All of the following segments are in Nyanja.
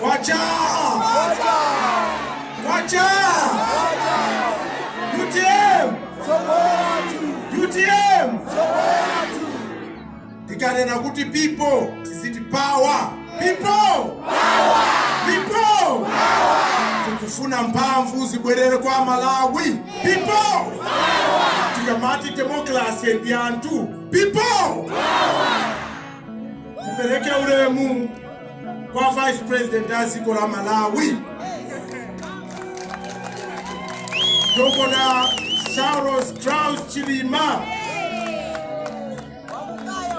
Kwacha! Kwacha! UTM! UTM! Tikanena kuti people tiziti power. People! Power! People! Power! Tikufuna mphamvu zibwerere kwa Amalawi. People! Power! Tikamati democracy ndi anthu. People! Power! Tipereke ulemu. kwa vice president a dziko la malawi dokota saulos klaus chilima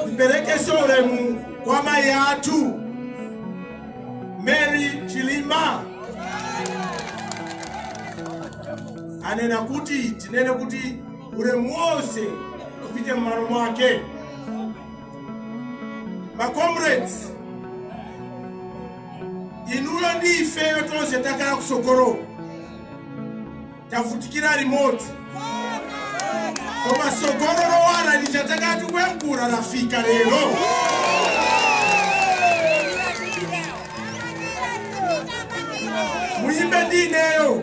ndiperekeso ulemu kwa mayi athu mary chilima anena kuti tinene kuti ulemu wonse upite m'malo mwake ma comrades inuyo ndi ifeyo tonse takhala kusogoloko tavutikira limodzi koma tsogolo lowala lija takhala tikuyankhula lafika lero muyimbe ndi ineyo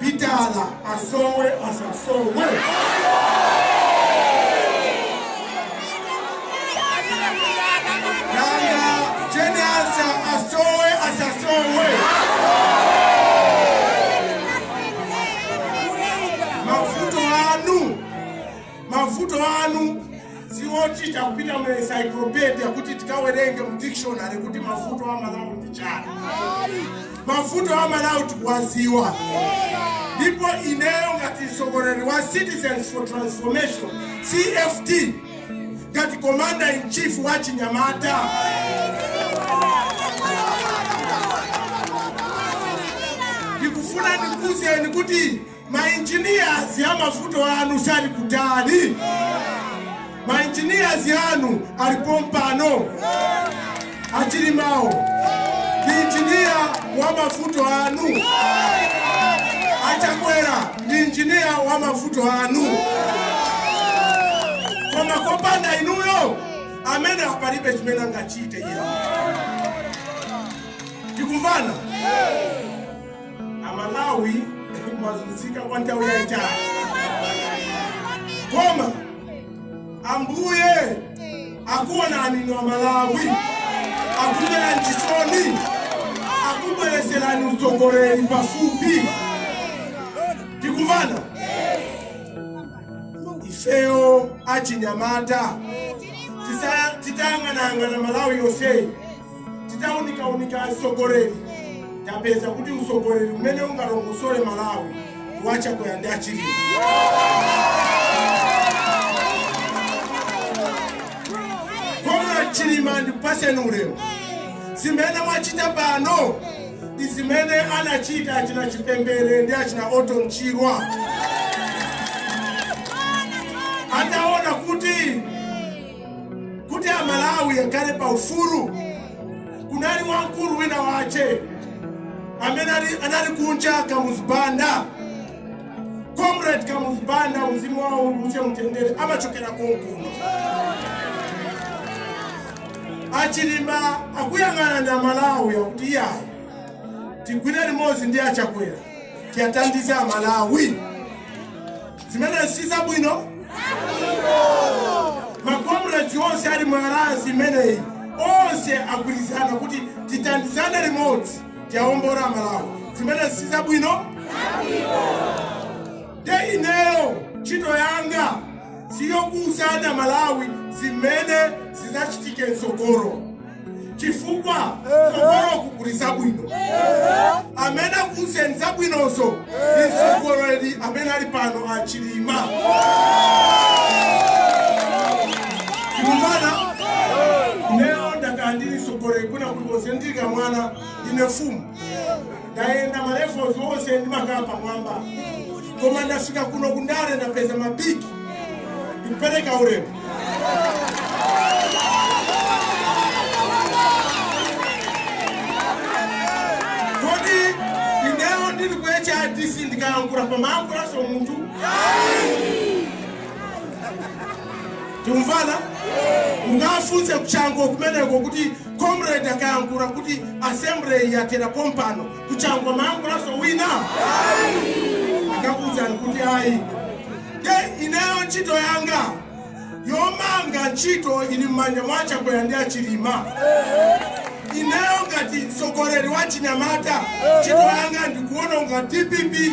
pitala asowe asasowe nanga jane ansah asowe asasowe mavuto anu mavuto anu siwochita kupita mu encyclopedia kuti tikawerenge mu dictionary kuti mavuto amalawi ndi chani mavuto amalawi tikuwaziwa ndipo ineyo ngati mtsogoleri wa citizens for transformation cft ngati commander in chief wa achinyamata ndikufuna ndikuuzeni kuti Ma engineers amavuto anu sali kutali ma engineers anu ali pompano achilimao ndi engineer wa mavuto anu achakwera ndi engineer wa mavuto anu koma kopanda inuyo amene apalibe chimene angachite iya tikumvana Amalawi mwazunzika kwa nthawi yaitali koma Ambuye akuonani inu Amalawi, akumverani chisoni, akubwereserani utsogoleri pafupi. Tikumvana ifeyo achinyamata, titayang'anayang'ana Malawi yonseyi Titaunikaunika utsogoleri tapeza kuti utsogoleri umene ungalongosole Malawi ndi wa Chakwera ndi a Chilima. Comrade Chilima ndikupatseni ulemu. Zimene mwachita pano ndi zimene anachita achina Chipembere ndi achina Orton Chirwa. Ataona kuti kuti amalawi akhale pa ufulu kunali wamkulu wina wake amene ali- anali kunja kamuzu banda comrade kamuzu banda mzimu wawo uwuse mumtendere amachokera konkuno achilima akuyang'ana amalawi akuti iyayi tigwire limodzi ndi achakwera tiwathandize amalawi Zimenezi si zabwino? Makomredi onse ali mu alliance imeneyi onse agwirizana kuti tithandizane limodzi tiwawombole Amalawi. Zimenezi si zabwino? Nde ineyo ntchito yanga siyokuuzani Amalawi zimene zidzachitike mtsogolo. chifukwa kutsogoloku kuli zabwino amene akuuzeni zabwinozo ndi mtsogoleri amene ali pano a chilima tikumvana lero ndakhala ndili mtsogoleri kwina kulikonse ndili kamwana ine mfumu ndayenda malevels onse ndimakhala pamwamba koma ndafika kuno kundale ndapeza mabiki ndikupereka ulemu kodi ineyo ndili ku hrdc ndikayankhula pamayankhulanso munthu tikumvana mukafunse ku chanco kumeneko kuti comrade akayankhula kuti assembly yathera pompano ku chanco amayankhulanso wina akakuwuzani kuti ayi nde ineyo ntchito yanga yomanga ntchito ili m'manja mwa chakwera ndi achilima ineyo ngati mtsogoleri wa chinyamata ntchito yanga ndikuwononga dpp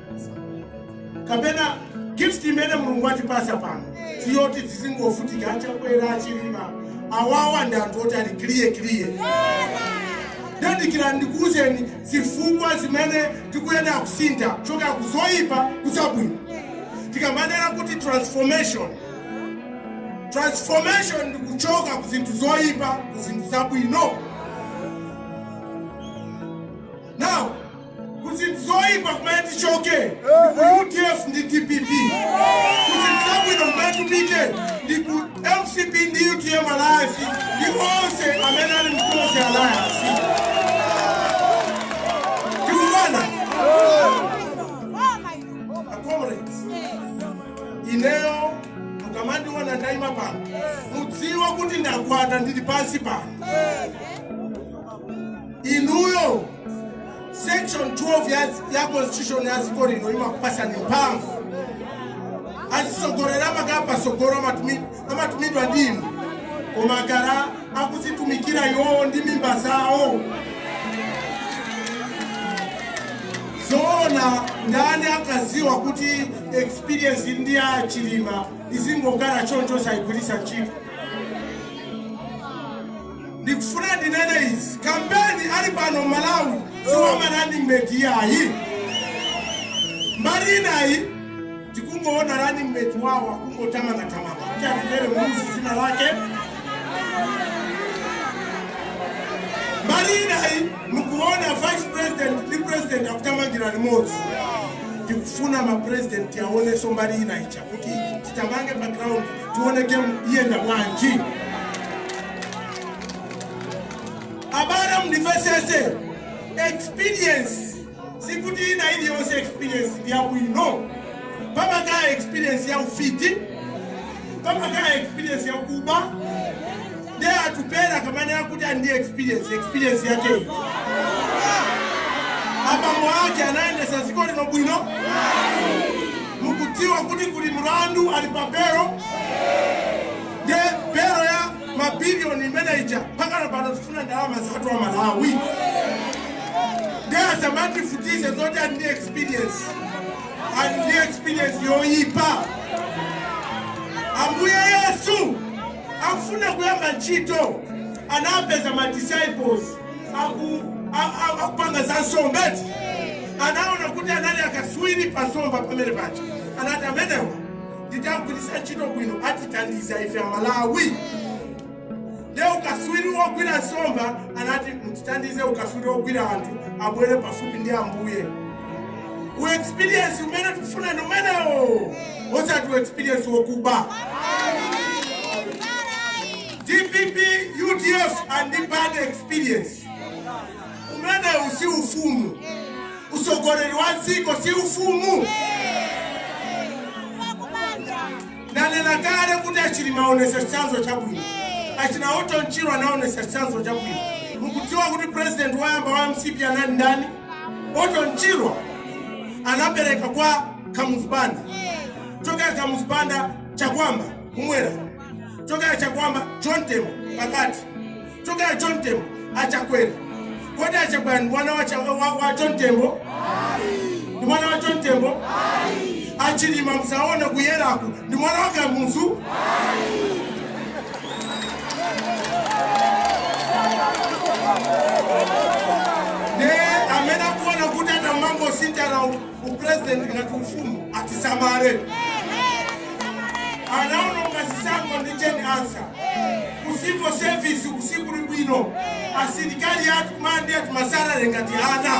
kapena gift imene mulungu atipatsa pano siyoti tizingofutika achakwera achilima awawa ndi anthu oti ali clear clear nde dikirani ndikuuzeni zifukwa zimene tikuyenera kusintha kuchoka ku zoyipa kuzabwino tikamanena kuti transformation transformation ndi kuchoka ku zinthu zoyipa ku zinthu zabwino Ku zinthu zoipa kumene tichoke ndi ku udf ndi dpp. Ku zinthu zabwino kumene tipite ndi ku mcp ndi utm alliance ndi onse amene ali mu Tonse alliance. Tikumvana comrades. Ineyo mukamandiona ndaima pano mudziwe kuti ndagwada ndili pansi pano. Inuyo section 12 ya, ya constitution ya dziko lino imakupasani mphamvu azisogoleri amakhala pasogolo amatumi- amatumidwa ndi inu koma amakhala akuzitumikira iwowo ndi mimba zawo zoona ndani sakuziwa kuti experience ndi ya chilima izingokhala choncho sayigwiritsa ntchito ndikufuna ndinene izi kampeni ali pano malawi si wa ma running mate yayi mbali inayi tikungoona running mate wawo akungothamangathamanga kuti Atupele Muluzi zina lake mbali inayi mukuona vice president ndi president akuthamangira limodzi tikufuna mapresident aoneke mbali inayi ncha kuti tithamange pa ground tione game iyenda bwanji abale mundivesese experience sikuti ina iliyonse experience ya bwino pamakhala experience ya ufiti pamakhala experience ya kuba nde atupele akamanena kuti ali ndi experience experience yake iti? abambo ake anayendesa ziko lino bwino mukudziwa kuti kuli mlandu ali pa belo nde belo ya mabiliyoni imene ija pakana pano tifuna ndalama zathu amalawi nde asamativutitse zoti ali ndi experience ali ndi experience yoyipa ambuye yesu afuna kuyamba ntchito anapeza ma disciples aku a- a- akupanga za nsomba eti anaona kuti anali akaswiri pa nsomba pamene paja anati amenewa nditagwiritsa ntchito bwino atithandiza ife amalawi nde ukaswiri wogwira nsomba anati mutithandize ukaswiri wogwira anthu abwere pafupi ndi ambuye u experience umene tikufuna ndi umenewo osati u experience wokuba dpp udf ndi bad experience umenewu si ufumu usogoleri wa dziko si ufumu Ndanena kale kuti a Chilima aonetsa chitsanzo chabwino. Achina Orton Chirwa anaonetsa chitsanzo chabwino. Mukudziwa kuti president woyamba wa mcp anali ndani? Orton Chirwa anapereka kwa Kamuzu Banda. Chokera Kamuzu Banda Chakwamba kumwera. Chokera Chakwamba John Tembo pakati. Choka a John Tembo a Chakwera kodi a Chakwera ndi mwana wa cha wa, wa John Tembo ndi mwana wa John Tembo a Chilima msaone kuyeraku ndi mwana wa Kamuzu ne amene akuona kuti atamangosinthana Upulezidenti ngati ufumu atisamale. Anaononga zisankho ndi Jane Ansah. Ku civil service uku sikuli bwino. Asilikali athu kumalandira ma salary ngati ana.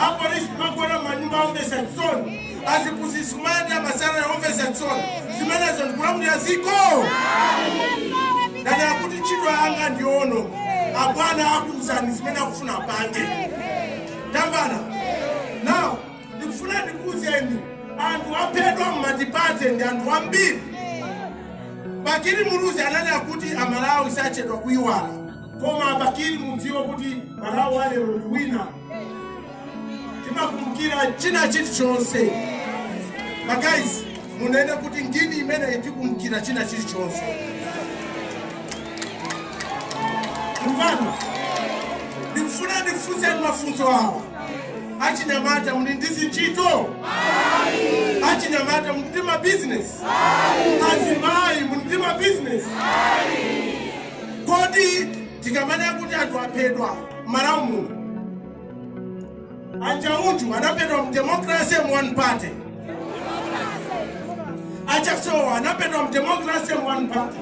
A police kumagona m'manyumba omvetsa chisoni. Aziphunzitsi kumalandira ma salary omvetsa chisoni. Zimenezo ndi kulamulira dziko? Ndanena kuti ntchito yanga ndi yoononga. Abwana akuuzani zimene akufuna apange. Tamvana now ndikufuna ndikuuzeni anthu aphedwa m'matipate ndi anthu ambiri. Bakili Muluzi ananena kuti a Malawi sachedwa kuiwala. Koma Bakili mudziwe kuti Malawi wa lero ndi wina. Timakumbukira china chilichonse. Ma guys munene kuti ngini imeneyi tikumbukira china chilichonse mvano ndikufuna ndifunseni mafunso awa achinyamata muli ndi zintchito achinyamata muli ndi mabizinesi azimayi muli ndi mabizinesi kodi tikamanena kuti anthu aphedwa malawi muno A Njauju anaphedwa m'democracy one party. A Chasowa anaphedwa m'democracy one party.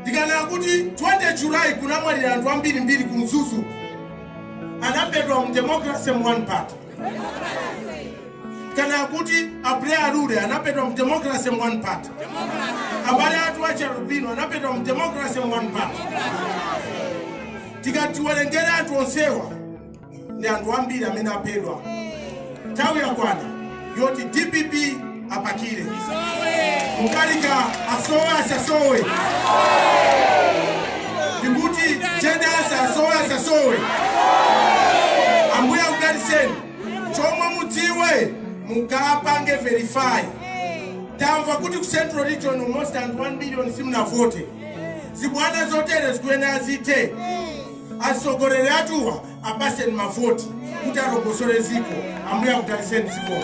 Ndikanena kuti 20 July kunamwalira anthu ambirimbiri ku Mzuzu anaphedwa m'democracy one party. kana akuti a Buleya Lule anaphedwa mu democracy mu one party abale athu achialubino anaphedwa mu democracy mu one party tikati tiwerengere anthu onsewa ndi anthu ambiri amene aphedwa nthawi yakwana yoti dpp apakire Mutharika asowe asasowe ndikuti Jane Ansah asowe asasowe Ambuye akudalitseni chomwe mudziwe mukapange verify tamva kuti ku central region almost and 1 million simunavote zibwana zotere zikuyenera zithe atsogoleri athuwa apasen mavoti kuti alongosole ziko ambuye akudaliseni zikoo